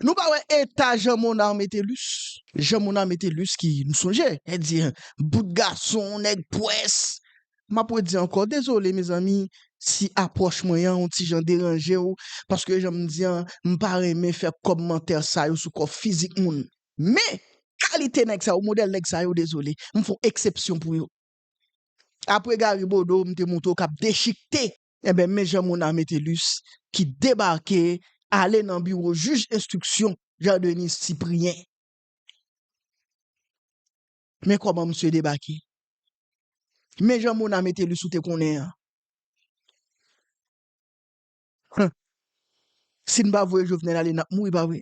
Nou pa wè eta Jean Monard Metellus? Jean Monard Metellus ki, nou sonje, e di, bout gason, nèg pwès. M ap redi ankò, dezole mezanmi si apwòch mwen an on ti jan deranje ou, paske jan m di an, m pa renmen fè kòmantè sa yo sou kò fizik moun. Men, kalite nèg sa yo, modèl nèg sa yo, dezole, m fè on eksepsyon pou yo. Apre Gary Bodeau, m te montre w k ap dechikte. Enben men jan Mona Metellus ki debake ale nan biwo jij enstriksyon Jean Denis Cyprien. Men kòman msye debake. Men jan Mona Metellus ou te konnen an. Huh! Si n pa voye Jovenel ale n ap mouri pa vre?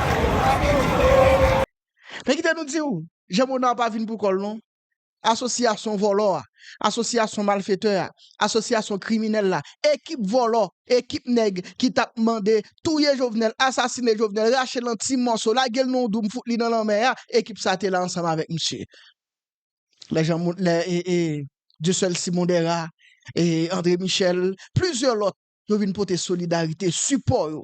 Men kite nou di w, Jean Monard pa vin pou kò l non. Asosyasyon vòlò a, asosyasyon malfetè a, asosyasyon kriminèl la, ekip vòlò, ekip nèg ki t ap mande touye Jovenel, asasine Jovenel, rache l an ti mòso, lage l nan yon doum fout li nan lanmè a, ekip sa te la ansanm avèk misye. Lè Jean Mo, lè Dieuseul Simon Dera, André Michel, plizyè lòt yo vin pote solidarite, sipò yo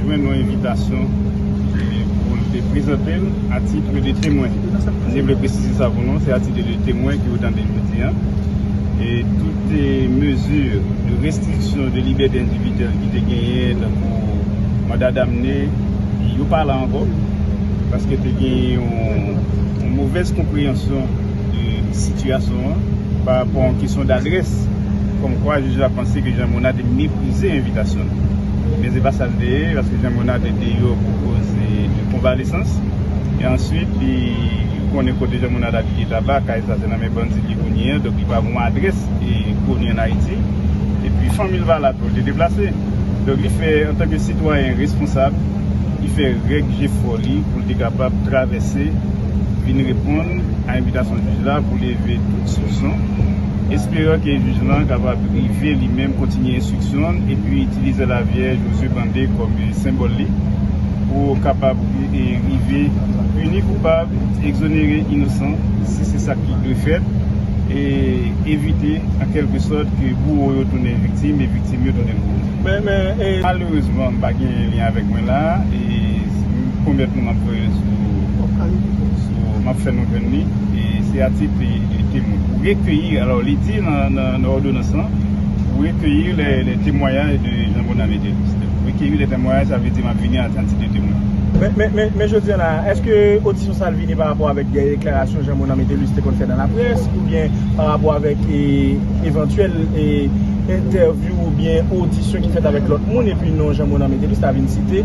jwenn yon envitasyon pou l te prezante l a titre de temwen. Mwen te vle presize sa pou nou, se a titre de temwen ke ou tande jodi an. E tout mezi de restriksyon de libète endividyèl ki te genyen tankou manda damne, yo pa la ankò. Paske te genyen yon movèz konpreyansyon. de sitiyasyon an pa rapò yon kesyon d'adrès kòm kwa jij la panse ke Jean Monard te meprize envitasyon l. Men se pa sa l te ye paske Jean Monard te deyò pou koz de konvalesans e answit li ou konnen kote Jean Monard abite laba kay sa se nan men bandi li ye kounye a donk li pa gon adrès e koni an Ayiti e pi fanmi l pa la tou l te deplase donk li fè antanke sitwayen responsab. li fè règ jefò li pou l te kapab travèse vin reponn a envitasyon jij la pou leve tout soupson, esperan ke jij lan kapab rive li menm kontinye enstriksyon l epi itilize lavèj o zye bande kòm senbòl li pou kapab rive pini koupab, egzonere inosan si se sa ki dwe fèt e evite an kèlke sòt ke bouwo yo tounen viktim e viktim yo tounen bouwo. Men men e malerezman m pa gen lyen avèk mwen la e pwomèt nou m ap voye sou m ap fè nou jwenn li e se atik li temwen pou rekeyi alò li di nan òdonans lan pou rekeyi lè temwayaj de Jean Bonamy Théophile pou rekeyi lè temwayaj sa vle di m ap vini an tanti ke temwen. Men men men jodi an la èske odisyon sa l vini pa rapò avèk dèyè deklarasyon Jean Bonamy Théophile te konn fè nan laprès oubyen pa rapò avèk evantyèl entèv. Yo oubyen odisyon ki fèt avèk lòt moun epi non Jean Monard Métellus ta vin site.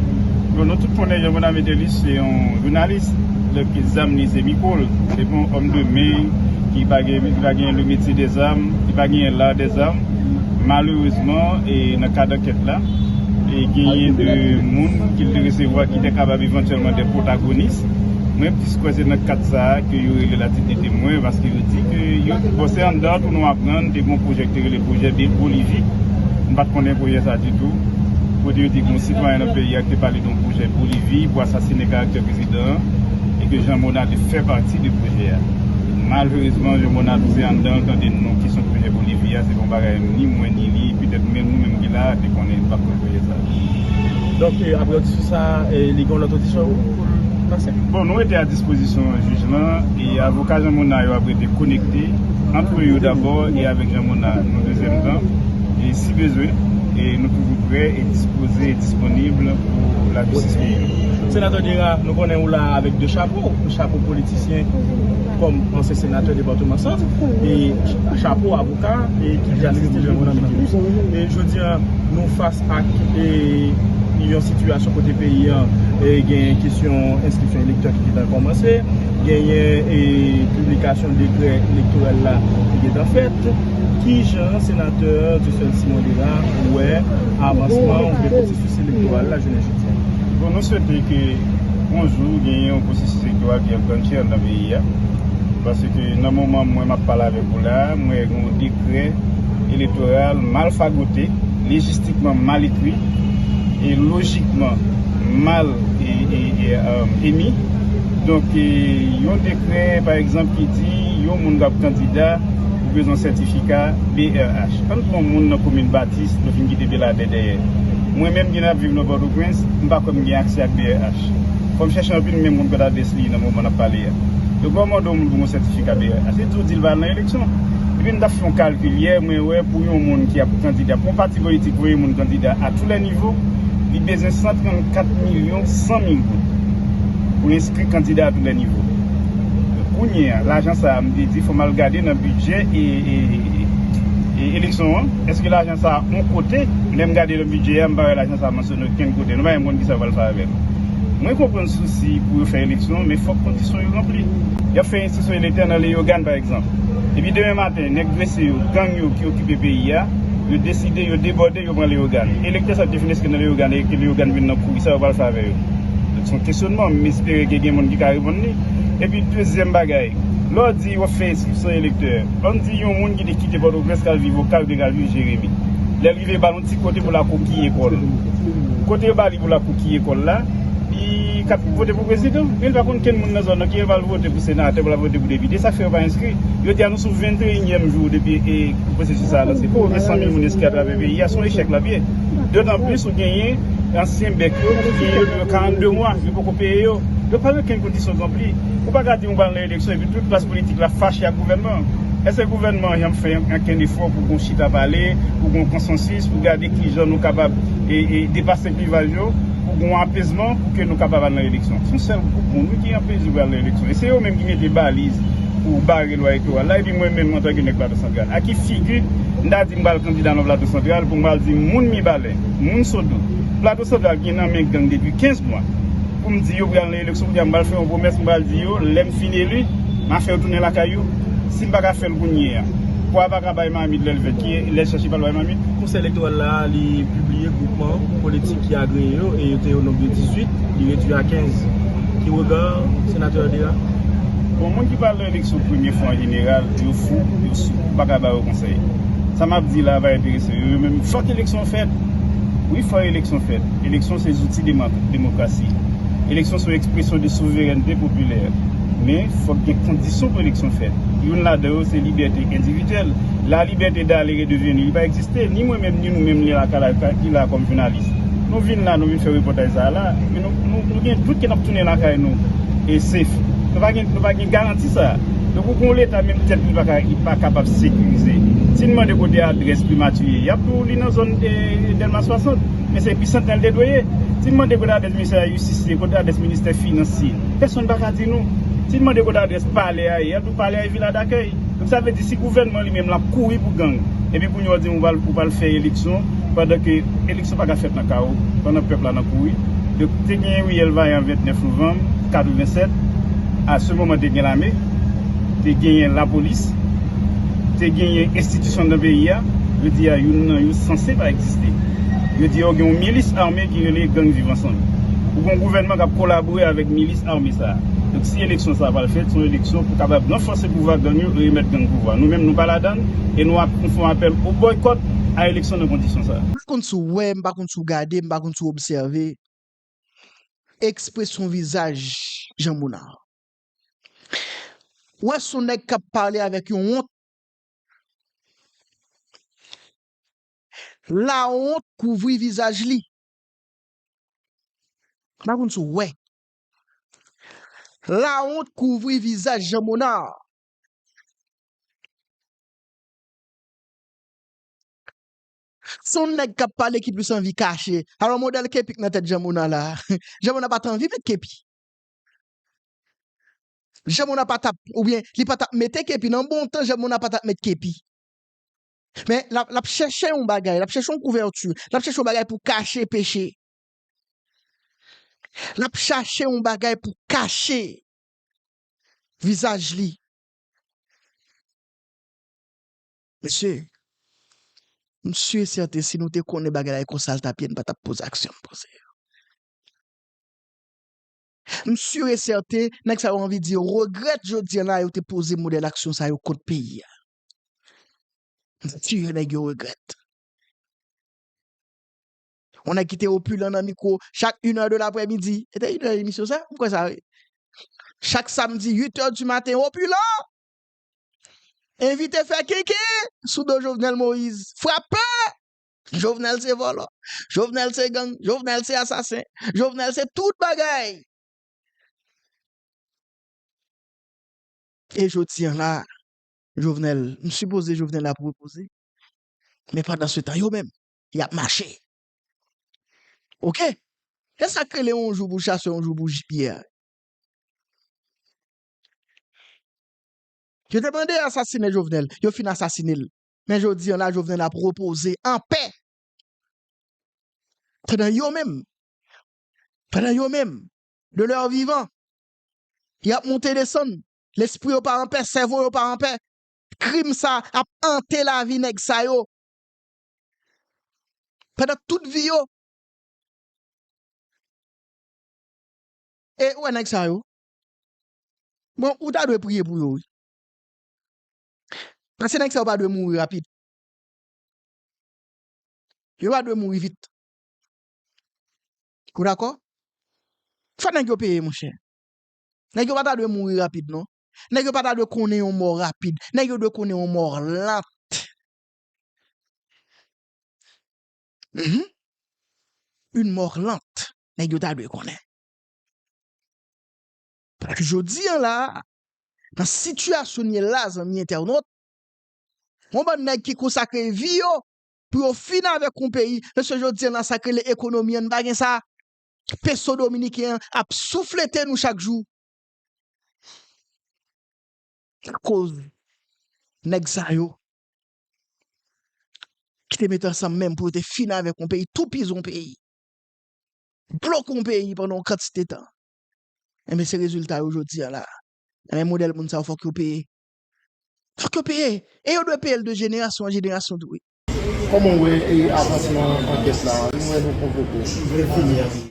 Bon nou tout konnen Jean Monard Métellus se yon jounalis, donk zam li se mikwo l, se pa yon òm de men ki pa gen le metye de zam, ki pa genyen l'art de zam, malerezman e nan kad ankèt la genyen de moun ke l te resevwa ki te kapab evantyèlman de pwotagonis, mwen plis kwè se nan kad sa ke yo rele l a tit de temwen paske yo di ke yo bon se anndan tou nou aprann te gen yon pwojè ki te rele. Pwojè de Bolivi, M pa t konnen pwojè sa ditou. Kote yo di gen yon sitwayen nan peyi a ki te pale de yon pwojè Bolivi pou asasine karaktè prezidan an e ke Jean Monard te fè pati de pwojè a. Malherezman, Jean Monard tou se anndan l tande non kesyon pwojè Bolivi a. Se pa yon bagay ni mwen ni li, petèt menm nou menm ki la a, te konnen. M pa t konnen pwojè sa a. Donk, apre odisyon sa a, li gen yon lòt odisyon pou l pase? Bon, nou rete a dispozisyon jij lan. E avoka Jean Monard yo ap rete konekte antre yo dabò e avèk Jean Monard yon dezyèm tan e si bezwen e nou toujou prè e dispoze e disponib pou lajistis peyi. Senatè Gérard, nou konnen ou la a avèk 2 chapo, chapo politisyen kòm ansyen senatè depatman Sant e chapo avoka e ki te asiste Jean Monard Miquelus. E jodi an nou fas ak e yon sitiyasyon kote peyi an e gen kesyon enskripsyon elektè ki gentan kòmanse, Genyen piblikasyon dekrè elektoral la ki gen tan fèt. Ki jan Senatè Dieuseul Simon Lérard wè avansman ou byen pwosesis elektoral la jounen jodi a? Bon, nou swete ke yon jou genyen yon pwosesis elektoral ki ap gran chèr nan peyi a. Paske nan moman mwen map pale avèk ou la, mwen wè yon dekrè elektoral mal fagote, lejistikman mal ekri, e lojikman mal emi. Donk, yon dekrè, pa egzanp, ki di yon moun kap kandida ou bezwen sètifika brh. Ann pran moun nan komin Batis, nou fin kite Beladè dèyè. Mwen menm ki ap viv nan Pòtoprens, m pa kwè m gen aksè ak brh. Fò m chèche anpil m menm moun kòtadès li ye nan moman n ap pale a. Donk, lè w mande yon moun pou yon sètifika brh, li di w di l pa al nan eleksyon. Epi m ta fè yon kalkil yè, mwen wè pou yon moun ki ap kandida, pou yon pati politik voye moun kandida a tou lè nivo, li bezwen 134 milyon 100 mil goud. pou enskri kandida a tou lè nivo. Kounye a, lajan sa a, m te di fò m al gade nan bidjè eleksyon an, èske lajan sa a on kote, lè m gade nan bidjè a, m pa wè lajan sa a mansyone okenn kote. Nou pa menm konn kisa yo pral fè avè l. Mwen konprann sousi pou yo fè eleksyon, men fòk kondisyon yo ranpli. Y ap fè enstriksyon elektè nan Leyogàn pa egzanp, epi demen maten nèg drese yo, gang yo ki okipe peyi a, yo deside yo debòde. Yo pran Leyogàn. Elektè sa te fin eske nan Leyogàn e ke Leyogàn vin nan kouri sa yo pral fè avè yo? Donk se yon kesyonman, m espere ke gen moun ki ka reponn li. Epi dezyèm bagay, lè w di w ap fè enskripsyon elektè, an n di yon moun ki te kite Pòtoprens k al viv Okap oubyen k al viv Jeremi. Lè l rive ba l yon ti kote pou l akokiye kò l. Kote yo ba li pou l akokiye kò l la, li ka vote pou prezidan. Men li pa konn kenn moun nan zòn nan, ki lè l pral vote pou senatè, pou l ap vote pou depite. Sa k fè yo pa enskri? Yo di a nou sou 21 nyèm jou depi e. Pwosesis sa a lanse pou ouvri 100 mil moun lespri atravè peyi a se yon echèk l ap ye. Dotanplis ou genyen ansyen bèk yo ki gen yo gen yo 42 mwa yo poko peye yo. Yo pa gen okenn kondisyon k ranpli. Ou pa ka di m ou pral nan eleksyon epi tout klas politik la fache ak gouvènman an. Èske gouvènman an janm fè ankenn efò pou gon chita pale, pou gon konsansis, pou gade kijan nou kapab depase klivaj yo, pou gon apezman pou ke nou kapab al nan eleksyon? Se yon sèl gwoup moun wi ki anpeche pral nan eleksyon e se yo menm ki mete baliz pou bare. Lwa elektoral la epi mwen menm antanke nèg Plato Santral a ki figi m ta di m pral kandida nan Plato Santral pou m pral di moun Mibalè, moun Sodo, Plato Santral ki gen nan men gang depi 15 mwa pou m di yo pou y al nan eleksyon kounye a m pral fè yon pwomès m pral di yo lè m fin eli m a fè yo tounen lakay yo si m pa ka fè l kounye a pwa pa ka bay mamit lè l vèt ki lè chèche pral bay mamit. Konsèy Elektoral la li pibliye gwoupman politik ki agreye yo e yo te o nonb de 18 li redwi a 15. Ki rega senatè a deya? Bon moun ki pral nan eleksyon premye fwa anjeneral yo fou, yo sou, ou paka ba yo konsèy. Sa map di la pa enterese yo, yo menm fòk eleksyon fèt. Wi fò eleksyon fèt, eleksyon se zouti demokrasi. Eleksyon son ekspresyon de souverènte popilè. Men fòk gen kondisyon pou eleksyon fèt. Youn ladan yo se libète endividyèl. La libète d'aller et de venir li pa egziste, ni mwen menm ni nou menm li la ki la kòm jounalis. Nou vin la nou vin fè repòtaj sa a la. Nou gen dout ke n ap tounen lakay nou e safe. Nou pa gen, nou pa gen garanti sa. Donk ou gen yon leta menm tèt li pa ka, li pa kapab sekirize. Si n mande kote adrès primati ye, y ap di w li nan zòn Dèlma 60. Men se episant nan li te dwe ye. Si n mande kote adrès ministè la jistis ye, kote adrès ministè finans ye, pèsonn pa ka di nou. Si n mande kote adrès palè a ye, y ap di w. Palè e vila dakèy. Donk sa vle di si gouvènman li menm l ap kouri pou gang epi kounye a w di m ou pral fè eleksyon pandan ke eleksyon pa ka fèt nan kawo pandan pèp la nan kouri donk te gen riyèl vayan 29 novanm 87 a se moman te gen lame te genyen lapolis te genyen enstitisyon nan peyi a jodi a youn nan yo sanse pa egziste jodi a ou gen yon milis ame ki rele gang viv ansanm ou gen yon gouvènman k ap kolabore avèk milis ame sa a. Donk si eleksyon sa pral fèt, se yon eleksyon pou kapab ranfòse pouvwa gang yo e remèt gang pouvwa. Nou menm nou pa ladann e nou ap fè yon apèl o bòykòt a eleksyon nan kondisyon sa. M pa konn si w wè, m pa konn si w gade, m pa konn si w obsève ekspresyon vizaj Jean Monard. Ou wè se yon nèg k ap pale avèk yon wont. Lawont kouvri vizaj li. M pa konn si w wè. Lawont kouvri vizaj Jean Monard. Se yon nèg k ap pale ki plis anvi kache. Alò modèl kepi k nan tèt Jean Monard la. Jean Monard pa t anvi met kepi. Jean Monard pa t ap, oubyen li pa t ap mete kepi. Nan bon tan Jean Monard pa t ap met kepi. Men, l ap chèche yon bagay, l ap chèche yon kouvèti, l ap chèche yon bagay pou kache peche. L ap chache yon bagay pou kache vizaj li. Mesye, m si e sèten si nou te konnen bagay la e konsa l t ap ye, nou pa t ap poze aksyon n poze yo. M si e sèten nèg sa yo anvi di yo regrèt jodi an la yo te poze modèl aksyon sa yo kont peyi a. M si e nèg yo regrèt. On nèg ki te opilan nan mikwo chak inè de laprèmidi. Se te inè emisyon sa? M kwè sa wi. Chak samdi uitè di maten opilan! Envite fè kenken sou do Jovenel Moïse. Frape! Jovenel se vòlò. Jovenel se gang. Jovenel se asasen. Jovenel se tout bagay. E jodi an la, Jovenel, m sipoze Jovenel ap repoze. Men pandansetan yo menm, yap mache ok esak rele yon jou pou chase yon jou pou jipye a. Yo te mande asasine jovenel yo fin asasine l men jodi an la jovenel ap repoze anpè pandan yo menm pandan yo menm de lè vivan yap monte desann lespri yo pa anpè sèvo yo pa anpè krim sa ap ante lavi nèg sa yo Pandan tout vi yo. E ou wè nèg sa yo. Bon, ou ta dwe priye pou yo wi. Paske nèg sa yo pa dwe mouri rapid. Yo pa dwe mouri vit. Ou dakò? Fò nèg yo peye monchè. Nèg yo pa ta dwe mouri rapid non. Nèg yo pa ta dwe konnen yon mò rapid. Nèg yo dwe konnen yon mò lant. Uhmm yn mort lent nèg yo ta dwe konnen. Paske jodi an la a nan sitiyasyon n ye la a zanmi entènot yon bann nèg ki konsakre vi yo pou yo fini avèk yon peyi mesye jodi an nan sa k rele ekonomi an n pa gen sa peso dominiken an ap souflete nou chak jou akoz nèg sa yo ki te mete ansanm menm pou yo te fini avèk yon peyi, toupizi yon peyi, bloke yon peyi pandan yon kantite tan. Enben se rezilta yo jodi an la. Enben modèl moun sa yo fòk yo peye. Fòk yo peye. E yo dwe peye l de jenerasyon an jenerasyon tou wi. Kòman w wè avansman ankèt la? Nou wè nou konvoke w.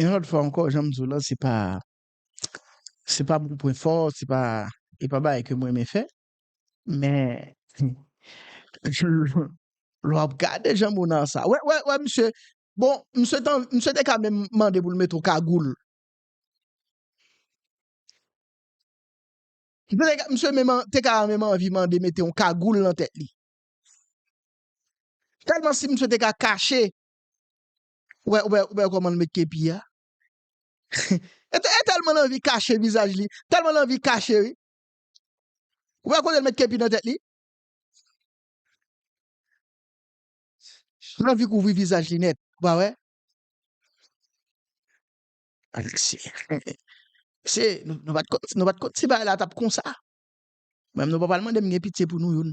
Yon lòt fwa ankò, jan m di w lan, se pa se pa pou pwen fò, se pa e pa bagay ke m renmen fè, men lè w ap gade jan Monar sa, wè wè wè misye, bon misye t an misye te ka menm mande pou l mete w kagoul, misye menm te ka menm anvi mande mete yon kagoul nan tèt li. Tèlman si misye te ka kache ou wè ou wè ou wè kòman l met kepi a e e tèlman l anvi kache vizaj li tèlman l anvi kache wi ou wè kote l met kepi nan tèt li l anvi kouvri vizaj li nèt ou pa wè Alexis mesye nou pa t konn nou pa t konn ti bagay la t ap konsa menm nou pa pral mande m gen pitye pou nou youn.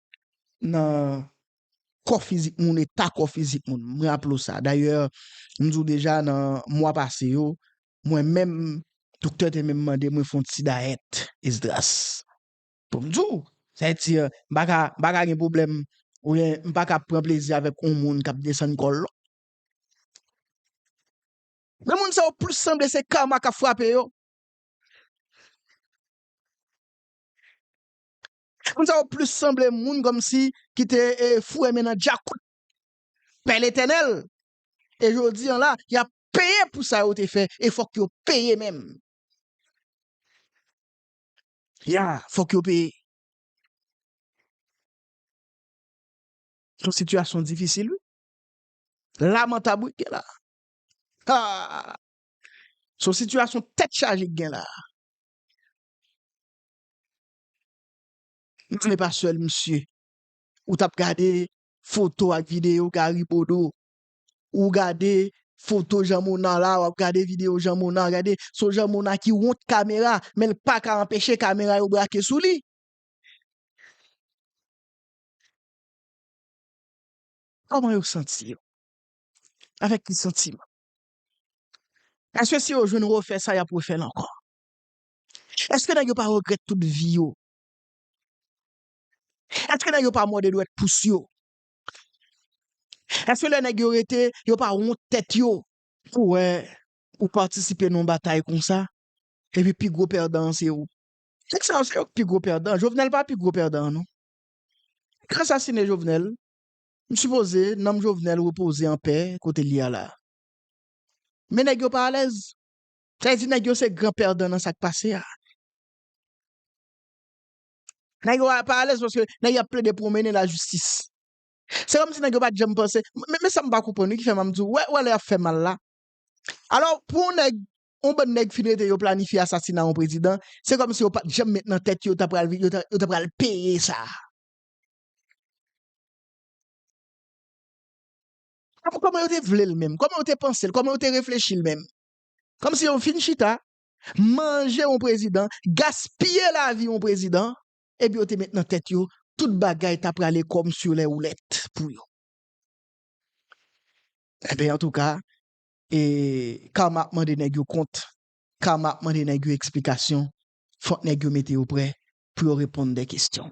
nan kò fizik moun, eta kò fizik moun. M raple w sa. Dayè, m di w deja nan mwa pase yo, mwen menm, doktè te menm mande mwen fè yon ti dayèt, Esdras. Pou m di w, sa vle di, m pa ka, m pa ka gen pwoblèm, oubyen m pa ka ap pran plezi avèk yon moun k ap desann kò l. Men moun sa yo plis sanble se Karma k ap frape yo. Moun sa yo plis sanble moun kòmsi ki te foure men nan djakout Pè Letènèl e jodi an la y ap peye pou sa yo te fè e fòk yo peye menm. Ya fòk yo peye. Son sitiyasyon difisil wi. Lamantab wi k gen la. Haa! Son sitiyasyon tèt chaje k gen la. M vle pa sèl misye ou tap gade foto ak video Gary Bodeau ou gade foto Jean Monard la wap gade video Jean Monard gade son Jean Monard ki wont kamera men l paka anpeche kamera yo brake sou li. Kòman yo santi yo? Avèk ki santiman? Paske si yo jwenn refè sa yap refè l ankò. Eske nèg yo pa regrèt tout vi yo? Eske nèg yo pa mòde dwèt pous yo? Eske lè nèg yo rete yo pa wont tèt yo? Ou wè ou patisipe nan yon batay konsa epi pi gwo pèdan an se ou. Nèg sa yo se yo ki pi gwo pèdan an, Jovenel pa pi gwo pèdan an non. Nèg yo asasine Jovenel, m sipoze nanm Jovenel repoze anpè kote li a la. Men nèg yo pa alèz. Sa vle di nèg yo se gran pèdan nan sak pase a. Nèg yo pa alèz paske nèg yo ap plede pwonmennen lajistis. Se kòmsi nèg yo pat janm panse, men sa m pa konprann wi ki fè m ap di w, wè lè y ap fè mal la. Alò pou yon nèg, yon bann nèg fin rete yo planifye asasina yon prezidan, se kòmsi yo pat janm met nan tèt yo ta pral yo ta pral peye sa. Kòman yo te vle l menm? Kòman yo te panse l? Kòman yo te reflechi l menm? Kòmsi yo fin chita, manje yon prezidan, gaspiye lavi yon prezidan, epi yo te met nan tèt yo tout bagay ta prale kòm sur les roulettes pou yo. Enben, antouka, e Karma ap mande nèg yo kont, Karma ap mande nèg yo eksplikasyon, fòk nèg yo mete yo prè pou yo reponn de kesyon.